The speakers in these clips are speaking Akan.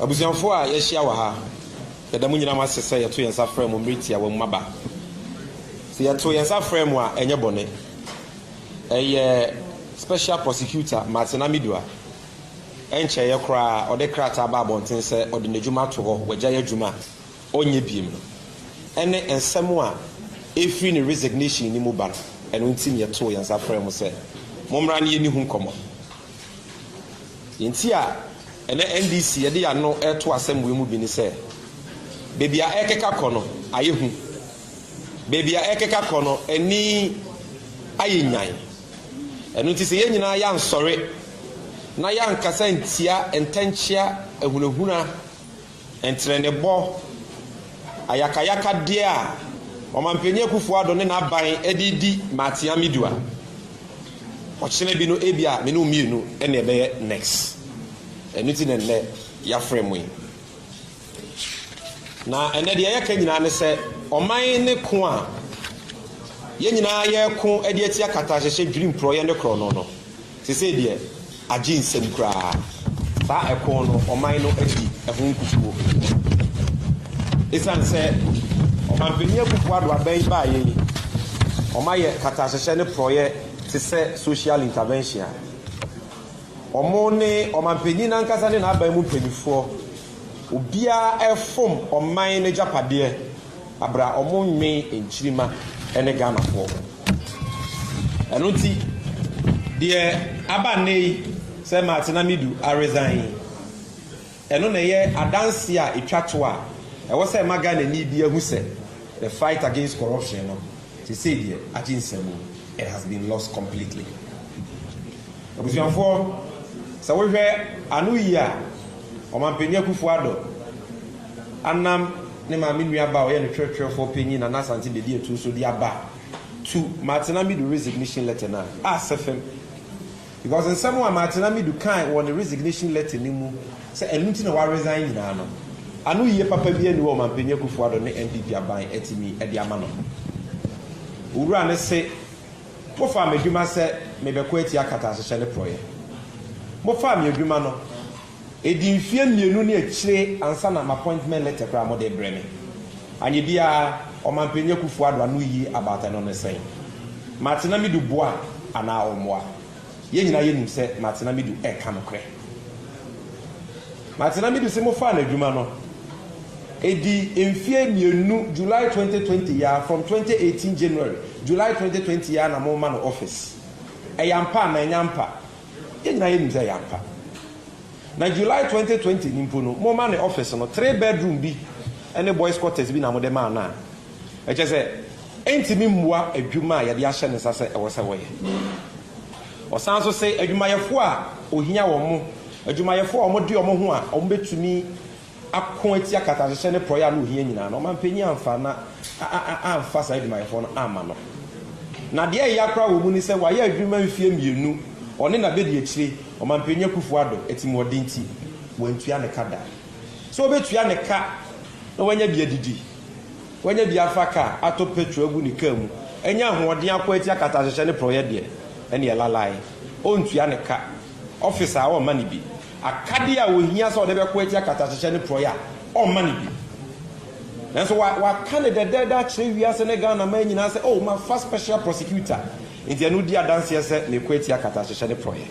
Abusuafo a yɛahyia wɔ ha, yɛda mo nyinaa mo ase sɛ yɛto yɛn nsa frɛ mo mmere tiawa mu aba. Sɛ yɛto yɛn nsa frɛ mo a, ɛnyɛ bɔne. Ɛyɛ Special Prosecutor Martin Amidua. Ɛnkyɛeɛ koraa ɔde krataa baa abɔnten sɛ ɔde n'adwuma ato hɔ, wagyae adwuma a ɔnyɛ biom no. Ɛne nsɛm a ɛfiri ne resignation no mu ba no, ɛno nti na yɛtoo yɛn nsa frɛɛ mo sɛ mommra ne yɛne ho nkɔmmɔ. Deɛ nti a ɛnɛ NDC de yɛn ano reto asɛm wei mu bi ne sɛ, baabi a ɛrekeka kɔ no ayɛ hu. Baabi a ɛrekeka kɔ no ani ayɛ nyan. Ɛno nti sɛ yɛn nyinaa yɛansɔre na yɛankasa ntia ntɛnkyea ahunahuna Ntenenebɔ, ayakayakadeɛ a Ɔmanpanin Akuffo Addo ne n'aban de redi m'atea me dua. Ɔkyena bi no ebia me ne wo mmienu na ɛbɛyɛ next. Ɛno nti na nnɛ yɛafrɛ mo yi. Na ɛnɛ deɛ yɛka nyinaa ne sɛ ɔman ne ko a yɛn nyinaa yɛreko de atia katahyehyɛ dwiri mporɔeɛ ne korɔno no. Sesei deɛ agye nsam koraa. Saa ɛko no, ɔman no adi ɛho nkukuo. Esiane sɛ Ɔmanpanin Akufo-Addo aban yi baeɛ yi, wɔayɛ katahyehyɛ ne porɔeɛ te sɛ social intervention a, wɔn ne Ɔmanpanin no ankasa ne n'aban mu mpanimfoɔ, obiara refom ɔman no agyapadeɛ. Aber a ɔmo nnwen nkyirimma ne Ghanafoɔ ho. Ɛno nti, deɛ aba nnɛ yi sɛ Martin Amidu aresign yi, ɛno na ɛyɛ adanseɛ a ɛtwa to a ɛwɔ sɛ ɛma Ghanani biara hu sɛ the fight against corruption no, sesei deɛ agye nsamu, it has been lost completely. Abusuafoɔ, sɛ wohwɛ ano yie a, Ɔmanpanin Akufo-Addo Anam ne maame nua ba a ɔyɛ no kyerɛkyerɛfoɔ panyin Nana Asante Bedi Atuu so de aba to Martina Midu resignation letter no a asɛ fam because nsɛm a Martina Midu kae wɔ ne resignation letter no mu sɛ ɛno nti na wa resign nyinaa no ano yie papa biara nni hɔ a Ɔmanpanyin Akufo Addo ne NPP aban atumi de ama no. Owura no se mofaa m'adwuma sɛ mebɛko atia akataahyehyɛ ne porɔeɛ. Mofaa me adwuma no. Ɛdi mfeɛ mmienu ne akyire ansa na m'appointment letter koraa mode rebrɛ me. Anyɛ biara Ɔmanpanyin Akuffo Addo ano yi about ɛno ne sɛn? Martina Midu boa anaa ɔmmoa? Yɛn nyinaa yɛnim sɛ Martina Midu reka nokorɛ. Martina Midu se mofaa n'adwuma no. Ɛdi mfeɛ mmienu July twenty twenty yi ara, from twenty eighteen January, July twenty twenty yi ara na morema no office. Ɛyɛ ampa anaa ɛnyɛ ampa? Yɛn nyinaa yɛnim sɛ ɛyɛ ampa. Na July twenty twenty no mpo no, moma ne office no three bedroom bi ne boys quarters bi na mode maa no a, ɛkyerɛ sɛ ɛntumi mmoa adwuma a yɛde ahyɛ ne nsa sɛ ɛwɔ sɛ wɔyɛ. Ɔsan nso se adwumayɛfoɔ a ohia wɔn, adwumayɛfoɔ a wɔde wɔn ho a wɔbɛtumi ako atia katahyehyɛ ne porɔeɛ a na ɔhia nyinaa no, ɔmanpanin amfa na amfa saa adwumayɛfoɔ no amma no. Na deɛ ɛya koraa wɔ mu ne sɛ wayɛ adwuma mfeɛ mmienu, ɔne n'abɛdiakyire, Ɔmanpanin Akuffo Addo, atirimuɔden nti, wantua ne ka da. Sɛ ɔbɛtua ne ka na wanya bi adidi, wanya bi afa kaa, atɔ petrol agu ne kaa mu, anya ahoɔden ako atia katahyehyɛ ne porɔeɛ deɛ, ɛnneɛ lalae, ɔntua ne ka. Ɔfis a ɔmma no bi. Akadeɛ a ɔhia sɛ ɔde bɛko atia katahyehyɛ ne porɔeɛ a, ɔmma no bi. Nanso wa, waka no dɛdɛɛdɛ akyerɛ wiase ne Ghanaman nyinaa sɛ, Oh, mafa special prosecutor, nti ɛno di adanseɛ sɛ meko atia katahyehyɛ ne porɔeɛ.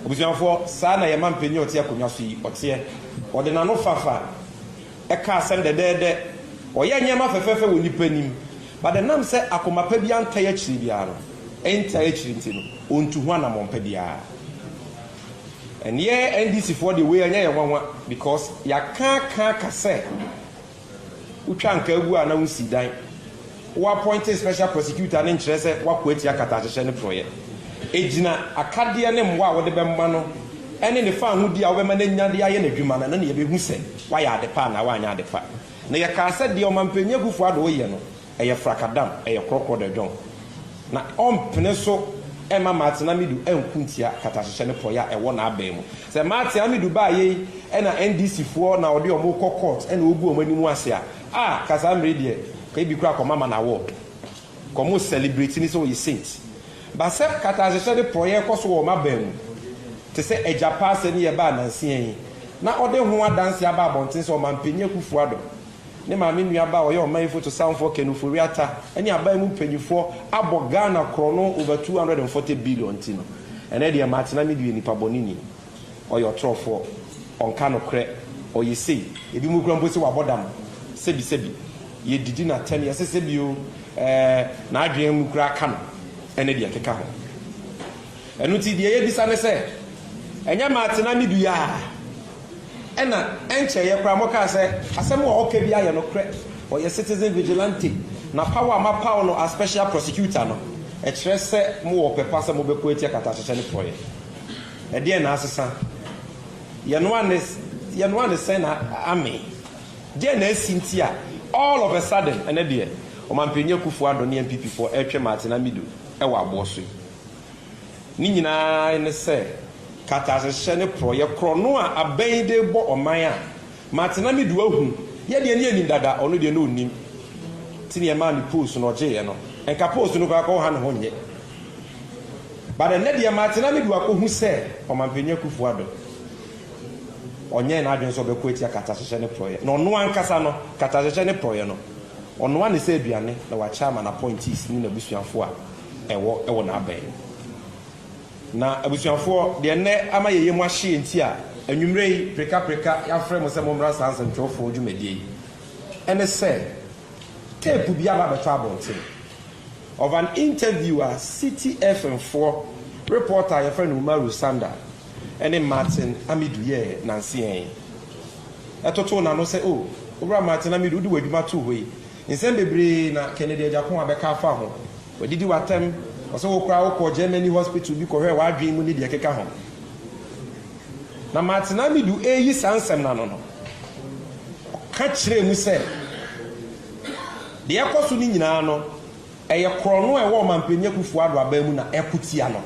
Abusuafoɔ, saa na yɛn mampanyin a ɔte akonnwa so yi, ɔteɛ. Ɔde n'anofafa ka asɛm dɛdɛɛdɛ. Ɔyɛ nneɛma fɛfɛɛfɛ wɔ nnipa anim. But ɛnam sɛ akoma pa biara ntae akyiri biara no, ɛntae akyiri nti no, ɔntu ho anammɔn pa biara. Ɛnneɛ NDC foɔ deɛ wei ɛnyɛ yɛn nwanwa because yɛaka aka aka sɛ wotwa ankaa agu a na wonsi dan. Wo appointing special prosecutor no nkyerɛ sɛ woako atia katahyehyɛ ne porɔeɛ. Ɛgyina akadeɛ ne mmoa a wode bɛma no ne ne faahodi a wobɛma no anya de ayɛ n'adwuma no, ɛno na yɛbɛhu sɛ woayɛ adepa anaa woanyɛ adepa. Na yɛkaa sɛ deɛ Ɔmanpanyin Akuffo Addo reyɛ no, ɛyɛ frakadam, ɛyɛ korɔkorɔ dɛ dwɔn. Na ɔmpene so mma Martin Amidu nko ntia katahyehyɛ ne porɔeɛ a ɛwɔ n'aban mu. Sɛ Martin Amidu baeɛ yi na NDC foɔ na wɔde wɔn rekɔ court na wɔgu wɔn anim ase a, ah, ka saa mmerɛ yi deɛ, ka ebi koraa kɔma man award. Nka ɔmo celebrate no sɛ ɔyɛ saint. But sɛ katahyehyɛ ne porɔyɛ kɔ so wɔ ɔmo aban mu, te sɛ Agya Pa asɛm yi a ɛbaa nansia yi, na ɔde ho adanse aba abɔnten sɛ Ɔmanpanin Akuffo Addo, ne maame nuabaa a ɔyɛ ɔman foto sanfoɔ Ken Ofori Atta, ne aban mu mpaninfoɔ abɔ Ghana korɔno over two hundred and forty billion nti no, ɛnɛ deɛ matena me due, nnipa bɔne ni. Ɔyɛ ɔtorɔfoɔ, ɔnka nokorɛ, ɔyɛ sei. Ebinom koraa mpo se wabɔ dam. Sɛbisɛbi, yɛdidi no atɛm, yɛsesɛ bi o, ɛɛ, n'adwene mu koraa ka no, ne deɛ ɛkeka ho. Ɛno nti, deɛ yɛbisa ne sɛ, Ɛnyɛ Martin na meduui a, ɛna ɛnkyɛeɛ koraa mokaa sɛ asɛm a ɔka biara yɛ nokorɛ, ɔyɛ citizen vigilante, na paw a moapaw no as special prosecutor no, ɛkyerɛ sɛ mowɔ ɔpɛ pa sɛ mobɛko atia katahyehyɛ ne porɔeɛ? Ɛdeɛn na asesa? Yɛnoa ne yɛnoa ne sɛn na amee? Deɛn na asi nti a all of a sudden ɛnɛ deɛ Ɔmanpanin Akuffo Addo ne NPP foɔ ɛretwe Martin Amido wɔ aboɔ so yi? Ne nyinaa ne sɛ katasehyɛ ne porɔeɛ korɔno a abɛn yi de rebɔ ɔman a Martin Amido ahu, yɛ deɛ ne yɛnim dada, ɔno deɛ ne ɔnnim. Nti neɛ ɛmaa ne post no ɔgyeeɛ no, nka post no koraa nka ɔnha ne ho nyɛ. But ɛnnɛ deɛ Martin Amidu akɔhu sɛ Ɔmanpanin Akuffo Addo ɔnyɛɛ n'adwene sɛ ɔbɛko atia katahyehyɛ ne porɔeɛ na ɔno ankasa no katahyehyɛ ne porɔeɛ no ɔnoa ne sɛ aduane na wakyɛ ama n'appointees ne n'abusuafoɔ a ɛwɔ wɔ n'abɛn no. Na abusuafoɔ deɛ ɛnnɛ ama yɛn yam ahye yɛn nti a anwummerɛ yi preka preka yɛafrɛ mo sɛ mommra saa nsɛmtwerɛfoɔ dwumadie yi ɛne sɛ tape bi aba abɛtɔ abɔnten. of an interview a Citi FM foɔ repɔɔta a yɛfrɛ no Umaru Sanda ne Martin Amidu yɛɛ nanseɛ yi. Ɛtotoo n'ano sɛ, O, Owura Martin Amidu, wode w'adwuma too hɔ yi, nsɛm bebree na Kennedy Agyapong abɛka afa ho. Wadidi w'atɛm, ɔse wo koraa wokɔɔ Germany hospital bi kɔhwɛɛ w'adwene mu ne deɛ ɛkeka ho. Na Martin Amidu reyi saa nsɛm no ano no, ɔka kyerɛɛ mu sɛ, Deɛ ɛkɔ so no nyinaa no, ɛyɛ korɔno a ɛwɔ Ɔmanpanin Akufo-Addo aban mu na ɛko tia no,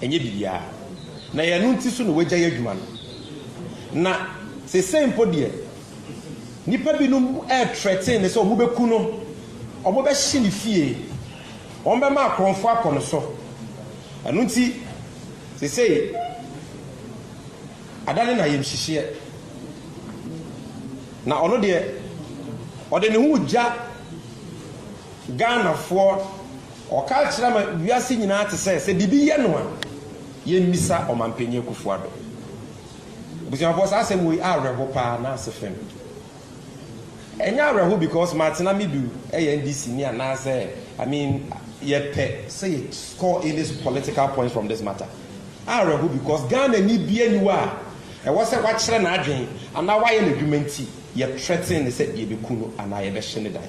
ɛnyɛ biribiara. Na ɛyɛ ɛno nti so na wɔagyae adwuma no. Na seesei mpo deɛ, nnipa binom retrɛten no sɛ wɔbɛku no, wɔbɛhye ne fie, wɔbɛma akorɔmfoɔ akɔ no so. Ɛno nti, seesei adane no ayamhyehyeɛ. Na ɔno deɛ ɔde ne ho regya Ghanafoɔ, ɔka kyerɛ ama wiase nyinaa te sɛ, sɛ biribi yɛ no a, yɛmmisa Ɔmanpanin Akuffo Addo. Abusuafoɔ saa asɛm wei awerɛho paa na ase fem. Ɛnyɛ awerɛho because Martina Midu yɛ NDC ni anaasɛ I mean yɛpɛ sɛ yɛ score any political points from this matter. Awerɛho because Ghanani biara ni hɔ a Ɛwɔ sɛ wakyerɛ n'adwene anaa wayɛ n'adwuma nti yɛtrɛten no sɛ yɛbɛku no anaa yɛbɛhye ne dan.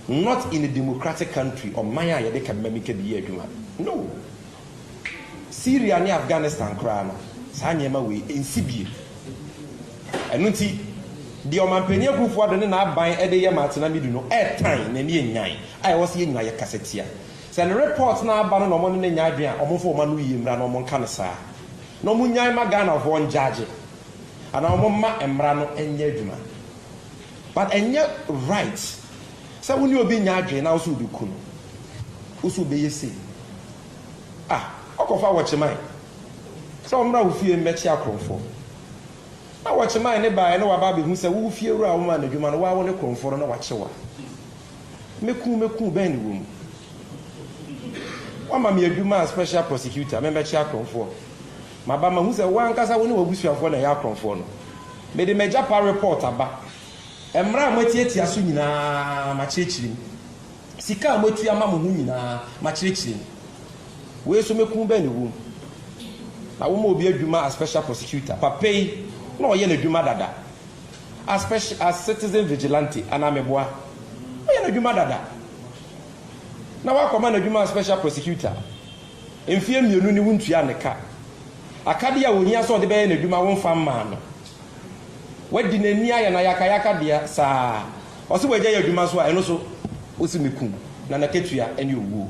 Not in a democratic country, ɔman a yɛde ka mmam ka bi yɛ adwuma. No! Syria ne Afghanistan koraa no, saa nneɛma wei ɛnsi bio. Ɛno nti, deɛ Ɔmanpanin Akuffo-Addo ne n'aban de yɛ Martina Midu no ɛretan na ani ɛnyan a ɛwɔ sɛ yɛn nyinaa yɛkasa tia. Sɛ ne report no aba no na wɔne no nyɛ adwene a, wɔmfa wɔn ano yie mmra na wɔnka no saa. Na ɔmo nnyae mma Ghanafoɔ ngyagye anaa ɔmo mma mmra no nyɛ adwuma but ɛnyɛ right sɛ wone obi nyɛ adwene na wosɛ wobɛku no wosɛ wobɛyɛ sei ah ɔkɔfa wɔkye mae sɛ ɔmmra wo fie mmɛkye akorɔmfoɔ na wɔkye mae ne baeɛ na waba abɛhu sɛ wo fie wura a womaa no adwuma no waa wo ne korɔmfoɔ no na wakye wo a Mɛku mɛku bɛn ne wɔ mu? Woama me adwuma a special prosecutor memmɛkye akorɔmfoɔ. Maba mahu sɛ wo ankasa wo ne w'abusuafoɔ na ɛyɛ akorɔmfoɔ no. Mede m'agya pa report aba. Mmara a moatiatia so nyinaa makyerɛkyerɛ mu. Sika a moatua ma mo ho nyinaa makyerɛkyerɛ mu. Wei nso mɛku bɛn ne wɔ mu? Na woma obi adwuma as special prosecutor. Papa yi na ɔyɛ n'adwuma dada. As special as citizen vigilante anaa meboa? Woyɛ no adwuma dada na woakɔma no adwuma as special prosecutor mfeɛ mmienu ne wontuaa no ka. Akadeɛ a ɔhia sɛ ɔde bɛyɛ n'adwuma womfa mmaa no. Woadi n'ani ayɛ no ayakayaka deɛ saa. Ɔse wagyae adwuma nso a ɛno nso wose me kum na n'akatua ne owuo.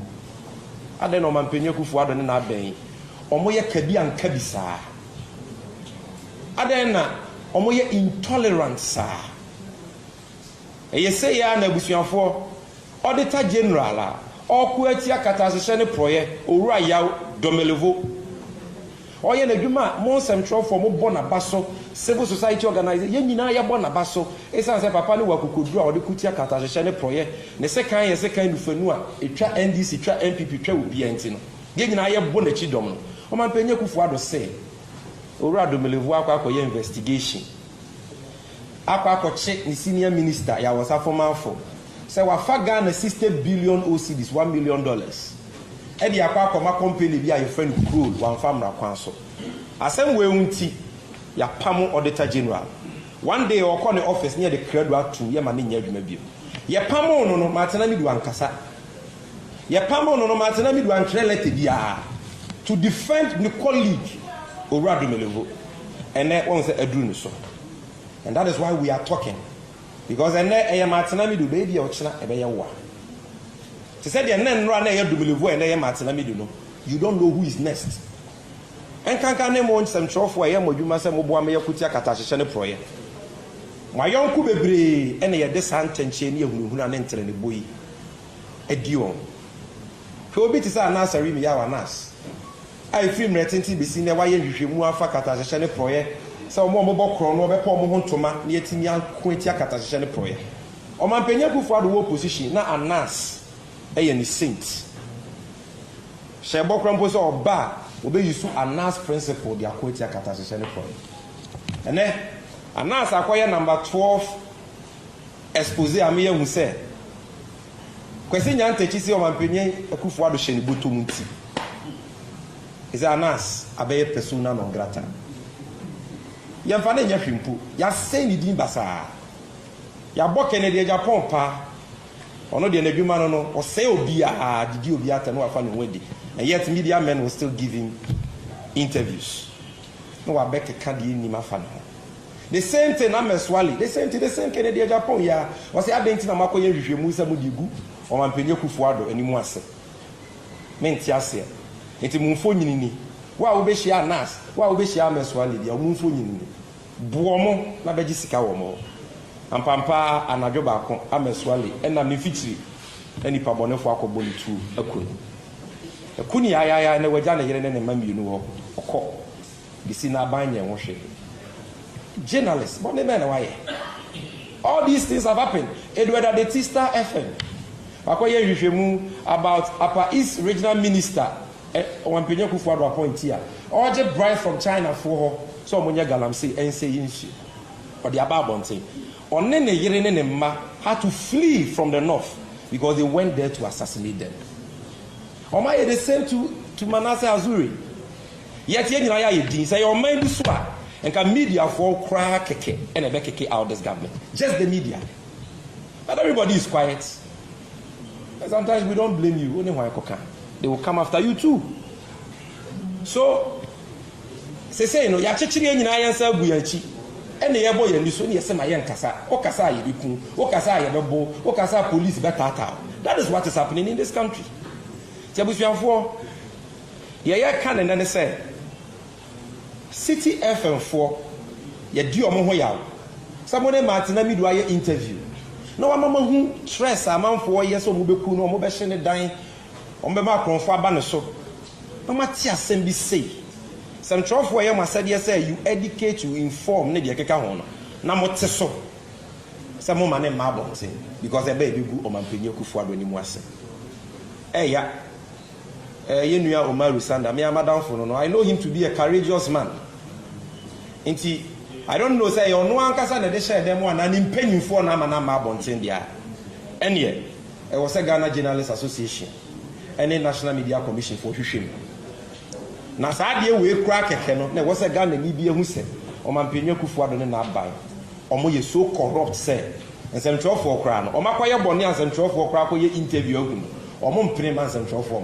Adɛn na ɔmampanin Akuffo Addo ne n'abɛn wɔyɛ kabi anka bi saa? Adɛn na wɔyɛ intolerant saa? Ɛyɛ sei ara na abusuafoɔ, Auditor General a ɔreko atia katasehyɛ ne porɔeɛ, Owura Yaw Domelevo, ɔyɛ n'adwuma a mo nsɛmtwerɛfoɔ mobɔ n'aba so, civil society organisations, yɛn nyinaa yɛbɔ n'aba so ɛsiane sɛ papa no wɔ akokoduro a ɔde ko tia katasehyɛ ne porɔeɛ, ne sekan yɛ sekan nufanu a ɛtwa NDC, twa NPP, twa obiara nti no. Yɛn nyinaa yɛbɔ nakyi dɔm no. Ɔmanpanyin Akuffo Addo se Owura Domelevu akɔ akɔyɛ investigation akɔ akɔkye ne senior minister Yawosa Formanfo sɛ wafa Ghana sixty billion O cedis, one million dollars, de akɔ akɔma company bi a yɛfrɛ no Krol wamfa mmra kwan so. Asɛm wei ho nti yɛapamo Auditor General. One day ɔkɔ ne office ne yɛde krado atom yɛma no nyɛ adwuma bio. Yɛpamoo no no, matena ne du ankasa. Yɛpamoo no no, mante na medu antwerɛ lɛtɛ biara to defend ne colleague Owura Domelevo. Ɛnnɛ wahu sɛ aduru ne so and that is why we are talking because ɛnnɛ ɛyɛ mante na medu bɛyɛ bi a ɔkyena ɛbɛyɛ woa. Te sɛ deɛ nnɛ nnora na ɛyɛ Domelevo a ɛnnɛ ɛyɛ mante na medu no, you don't know who is next. Ɛnkanka ne mo nsɛmtwerɛfoɔ a ɛyɛ mo adwuma sɛ moboa ma yɛko tia katahyehyɛ ne porɔeɛ. Mo ayɔnko bebree na yɛde saa ntɛnkyea ne ahunahuna ne ntenenebɔ yi aduon. Hwɛ obi te sɛ Anasarimi Yaw Anas, a efiri mmerɛ tenten besi nnɛ wayɛ nhwehwɛmu afa katahyehyɛ ne porɔeɛ sɛ wɔn a wɔbɔ korɔn no wɔbɛpɔ wɔn ho ntoma na yɛatumi ako atia katahyehyɛ ne porɔeɛ. Ɔmanpanyin Akuffo Addo wɔ opposition na Anas yɛ ne saint. Hyɛ bɔ koraa mpo sɛ ɔba a wɔbɛ use Anas principle de ako atia katahyehyɛ ne porɔeɛ. Ɛnnɛ Anas akɔyɛ number 12. Expose a meyɛ hu sɛ Kwesi Nyantakyi se Ɔmanpanyin Akuffo Addo hyɛ ne bɔtɔ mu nti His Anas abɛyɛ persona non grata. Yɛmfa no nyɛ hwe mpo, yɛasɛe ne din basaa. Yɛabɔ Kennedy Agyapong paa, ɔno deɛ n'adwuma no no ɔsɛe obiara de di obiara atɛm na wafa ne ho adi and yet media men will still give him interviews. na wabɛkeka deɛ ɛnnim afa ne ho. The same thing na Mɛsoale, the same thing, the same thing, ɛdeɛ Japan yi ara, ɔse adɛn nti na moakɔyɛ nhwehwɛmu sɛ mode regu Ɔmampanin Akuffo Addo anim ase? Mente aseɛ. Nti mo mfonyini ni. Wo a wobɛhyiaa Nas, wo a wobɛhyiaa Mɛsoale biara, wɔn mfonyini ni. Boɔ mo na bɛgye sika wɔ mo hɔ. Ampampa ara anadwo baako a Mɛsoale nam ne mfikyiri na nnipa bɔnefoɔ akɔbɔ no tuo aku no. Ɛko ni ayaayaa na wagya ne yere ne ne mma mmienu hɔ ɔkɔ besi n'aban nyɛ ho hwee. Journalist bɔne bɛn na wayɛ? All these things have happened Edward Adeti Star FM wakɔyɛ nhwehwɛmu about Upper East Regional Minister Ɔwampɛnyi Akufo Addo appointee a ɔregye bribe from China foɔ hɔ sɛ wɔnyɛ galamsey ɛnsɛ yi nsuo ɔde aba abɔnten. Ɔne ne yere ne ne mma had to flee from the north because they went there to assassinate them. Wɔn ayɛ the same to to Manasseh Azuri. Yet yɛn nyinaa yɛ ayɛ din sɛ yɛ ɔman bi so a nka mediafoɔ koraa kɛkɛ ɛna ɛbɛ keke out this government. Just the media. But everybody is quiet. And sometimes we don't blame you. Only why koka. They will come after you too. So Sesei no, yɛakyekyere yɛn nyinaa yɛn nsa agu yɛn akyi na yɛbɔ yɛn ani so na yɛse ma yɛnkasa. Wokasa a yɛbɛku wo, wokasa a yɛbɛbo wo, wokasa a police bɛtaataa wo. That is what is happening in this country. Nti abusuafoɔ, deɛ yɛreka no nnɛ ne sɛ, City FM foɔ, yɛdi wɔn ho yaw. Sɛ mo ne Martin Amidu ayɛ interview na wama moahu stress a amanfoɔ yɛ sɛ wɔbɛku no, wɔbɛhye ne dan, Wɔbɛma akorɔmfo aba ne so. Na moate asɛm bi sei? Sɛm twerɛfoɔ ɛyɛ mo asɛdeɛ sɛ you educate, you inform ne deɛ ɛkeka ho no, na mote so sɛ moma ne mma abɔnten because ɛba a ɛbɛgu Ɔmanpanin Akuffo Addo anim ase. Ɛya. Eh, yɛn nua Umaru Sanda, me ara m'adamfo no no, I know him to be a courageous man. Nti, I don't know sɛ ɛyɛ ɔno ankasa na ɛde hyɛɛ dɛm anaa ne mpanyimfoɔ na ama no amma abɔnten deɛ a, ɛnneɛ Ɛwɔ sɛ Ghana Journalists Association ne National Media Commission foɔ hwehwɛ mu. Na saa adeɛ wei koraa kɛkɛ no na ɛwɔ sɛ Ghanani bi ahu sɛ Ɔmanpanyin Akuffo Addo ne n'aban wɔn yɛ so corrupt sɛ nsɛmtwerɛfoɔ koraa no wɔn akɔyɛ bɔne a nsɛmtwerɛfoɔ koraa kɔyɛ interview ahu no wɔn mpene mma nsɛmtwerɛfoɔ mma.